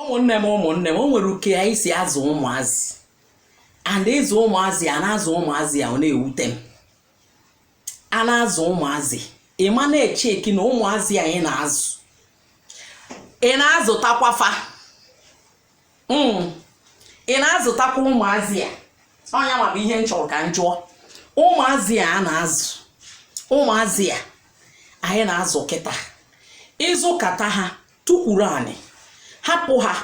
ụmụnne m ụmụnne m o nwere uke anyị si azụ ụmụazị and ịzụ ụmụazị a na-azụ ụmụazị a ọ na-ewute m a na-azụ ụmụazị ị ma na-echeki na ụmụazị anyị na-azụ ị na-azụtakwa fa mm. ị na-azụtakwa ụmụazị a ọ nya ma bụ ihe m chọrọ ka m jụọ ụmụazị a na-azụ ụmụazị a anyị na-azụ kịta ịzụkata ha tukwuru anị hapụ ha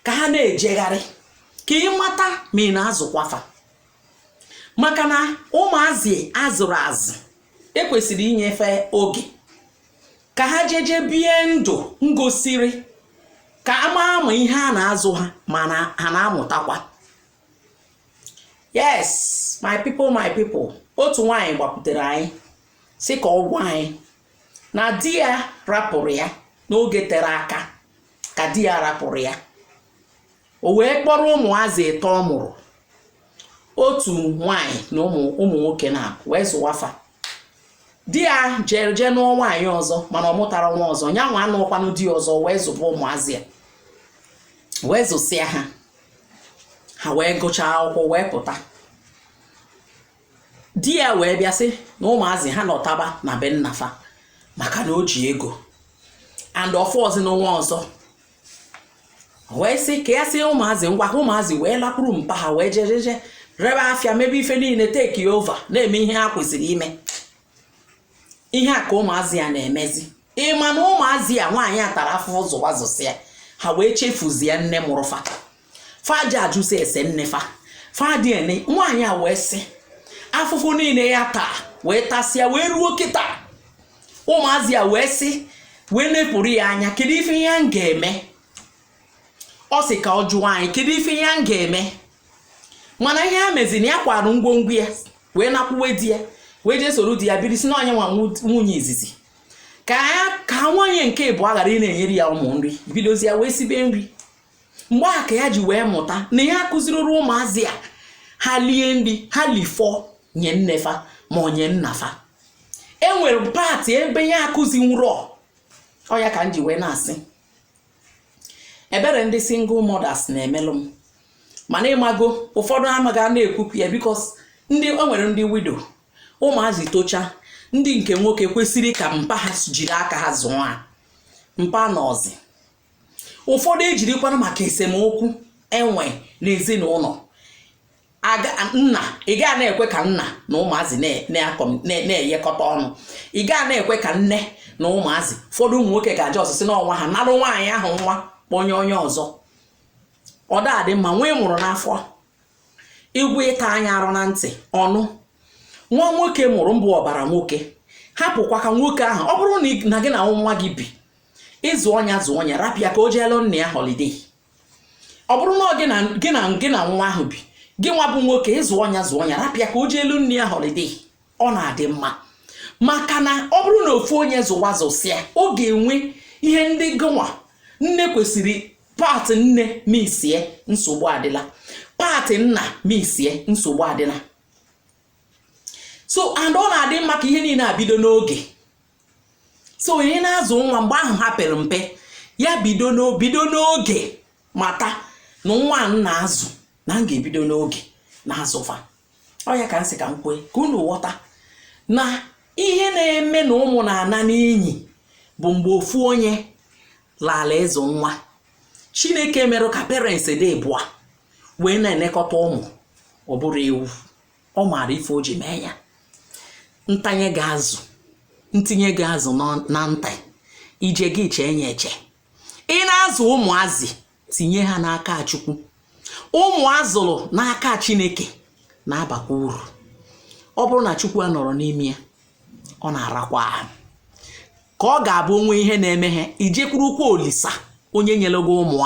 ka ha na-ejegharị ka ị mata ma ị na-azụkwa fa maka na ụmụazị a zụrụ azụ e kwesịrị inye fa oge ka ha jeje bie ndụ ngosiri ka a maa ma ihe a na-azụ ha ma ha na-amụtakwa yes my people my people otu nwaanyị gbakwutere anyị sị ka ọ gwa anyị na di ya rapụrụ ya n'oge tere aka ka di ya rapụrụ ya o wee kpọrọ ụmụazị ịtọ ọ mụrụ otu nwanyị na ụmụ nwoke na wee zụwa fa di ya jere jee nụọ nwaanyị ọzọ mana ọ mụtarọ nwa ọzọ ya nwa anụọkwanụ di ọzọ wee zụba ụmụazị ya wee zụsịa ha ha wee gụchaa akwụkwọ wee pụta di ya wee bịa sị na ụmụazị ha nọtaba na be nna fa maka na o ji ego and ọ fọzinụ nwa ọzọ wee sị ka ya sị ụmụazị ngwa ka ụmụazị wee lakwuru mpa ha wee jejeje rebe afịa mebe ife niile take over na-eme ihe ha kwesịrị ime ihe a ka ụmụazị ya na-emezi ị ma na ụmụazị ya nwaanyị a tara afụfụ zụwa zụsịa ha wee chefuzie nne mụrụ fa fa adị ajụsị ese nne fa fa adị ene nwaanyị a wee sị afụfụ niile ya taa wee tasịa wee ruo kịta ụmụazị ya wee sị wee nepụrụ ya anya kedu ife ya ga-eme ọ sị ka ọ jụọ anyị kedu ife ya ga-eme mana ihe ya mezi na ya kwara ngwongwo ya wee nakwuwe di ya wee jee soro di ya biri sị na ọ nya nwa nwunye izizi ka ya ka nwunye nke ịbụọ ghara ịna-enyere ya ụmụ nri bidozi ya wee sibe nri mgbe a ka ya ji wee mụta na ya akụzirọ ụmụazị a ha lie nri ha lifọ nye nne fa ma ọ nye nna fa e nwere part ebe ya akụzinwurọ ọ ya ka m ji wee na-asị ebere ndị single mothers na-emelụ m mana ị mago ụfọdụ a ma ga na-ekwupụ ya because ndị o nwere ndị widow ụmụazị tochaa ndị nke nwoke kwesịrị ka mpa ha jiri aka ha zụọ ha mpa anọzị ụfọdụ ejirikwana maka esemokwu e nwe n'ezinụlọ nna ị ga na-ekwe ka nna na ụmụazị na-eyekọta ọnụ ị ga na-ekwe ka nne na ụmụazị ụfọdụ ụmụ nwoke ga-aja ọsịsị n'ọnwa ha nalụ nwaanyị ahụ nwa kpọnye onye ọzọ ọ da adị mma nwa ị mụrụ n'afọ ị ga-ata nya arụ na ntị ọ nụ nwa nwoke mụrụ bụ ọbara nwoke hapụkwa ka nwoke ahụ ọ bụrụ na gị na nwa gị bi ị zụọ nya zụọ nya rapụ ya ka o jeelu nna ya holiday ọ bụrụ na ọ gị na nwa ahụ bi gịnwa bụ nwoke ị zụọ nya zụọ nya rapụ ya ka o jeelu nne ya holiday ọ na-adị mma maka na ọ bụrụ na ofu onye zụwa zụsịa ọ ga-enwe ihe ndị gịnwa nne kwesịrị part nne missie nsogbu adịla part nna missie nsogbu adịla so and ọ na-adị mma ka ihe niile abido n'oge so onye na-azụ nwa mgbe ahụ ha pere mpe ya bido n'oge mata na nwa m na-azụ na m ga-ebido n'oge na-azụ fa ọ ya ka m sị ka m kwue ka unu ghọta na ihe na-eme na ụmụ na-ana n'inyi bụ mgbe ofu onye laala ịzụ nwa chineke merụ ka parents dị ịbụa wee na-elekọta ụmụ ọ bụrọ ewu ọ maara ife o ji mee ya ntanye gị azụ ntinye gị azụ na nta ije gị chee ya eche ị na-azụ ụmụazị tinye ha n'aka chukwu ụmụ a zụrụ n'aka chineke na-abakwa uru ọ bụrụ na chukwu anọrọ n'ime ya ọ na-arakwa ahụ ka ọ ga-abụ o nwee ihe na-eme ha i jekwurukwa olisa onye nyere gị ụmụ